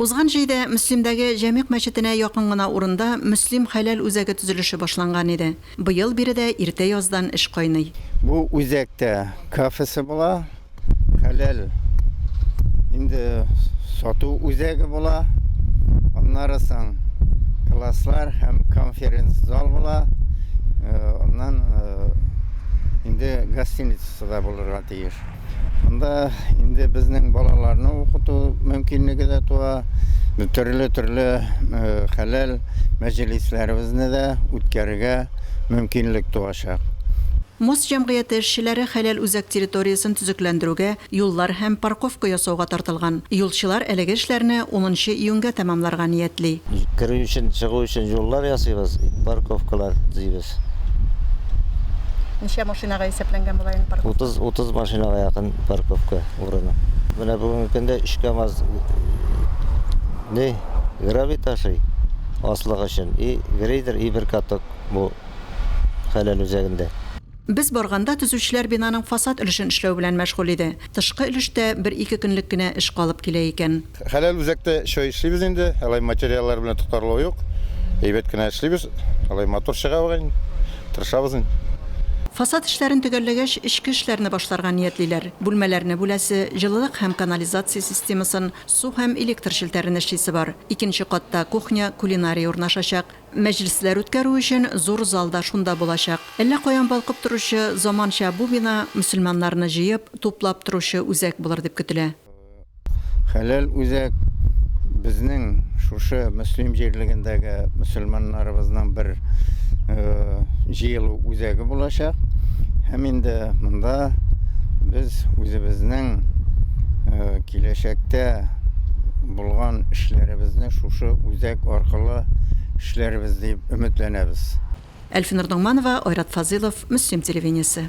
Узган җәйдә Мөслимдәге Җәмигъ мәчетенә якын гына урында Мөслим хәләл үзәге төзелеше башланган иде. Быел биредә иртә яздан эш кайный. Бу үзәктә кафесы була, хәләл инде сату үзәге була, аннары соң класслар һәм конференц-зал була, аннан инде гостиницасы да булырга тиеш. Анда инде безнең балаларны укыту мөмкинлеге дә туа, төрле-төрле хәләл мәҗлисләребезне дә үткәрергә мөмкинлек туачак. Мос җәмгыяте эшчеләре хәләл үзәк территориясен төзекләндерүгә, юллар һәм парковка ясауга тартылган. Юлчылар әлеге эшләрне унынчы июньгә тәмамларга ниятли. Керү өчен, чыгу өчен юллар ясыйбыз, парковкалар төзибез. Ут. Ничә машинага исәпләнгән була инде парковка? 30, 30 машинага якын парковка урыны. Менә бүгенге көндә 3 КАМАЗ не гравий ташый аслык өчен и грейдер и бер каток бу хәләл үзәгендә. Без барганда төзүчеләр бинаның фасад өлешен эшләү белән мәшгуль иде. Тышкы өлештә бер-ике көнлек кенә эш калып килә икән. Хәләл үзәктә чай эшлибез инде, алай материаллар белән тотарлык юк. Әйбәт кенә эшлибез, алай матур чыга бугай, тырышабыз инде. Фасад эшләрен төгәлләгәч, эчке эшләрне башларга ниятлиләр. Бүлмәләрне бүләсе, җылылык һәм канализация системасын, су һәм электр челтәрен эшлисе бар. Икенче катта кухня, кулинария урнашачак. Мәҗлесләр үткәрү өчен зур зал да шунда булачак. Әллә каян балкып торучы заманча бу бина мөселманнарны җыеп, туплап торучы үзәк булыр дип көтелә. Хәләл үзәк безнең шушы мөслим җирлегендәге мөселманнарыбызның бер э, җыелу үзәге булачак. Һәм инде монда без үзебезнең э, киләчәктә булган эшләребезне шушы үзәк аркылы эшләрбез дип өметләнәбез. Әлфинур Ногманова, Айрат Фазылов, Мөслим телевидениесе.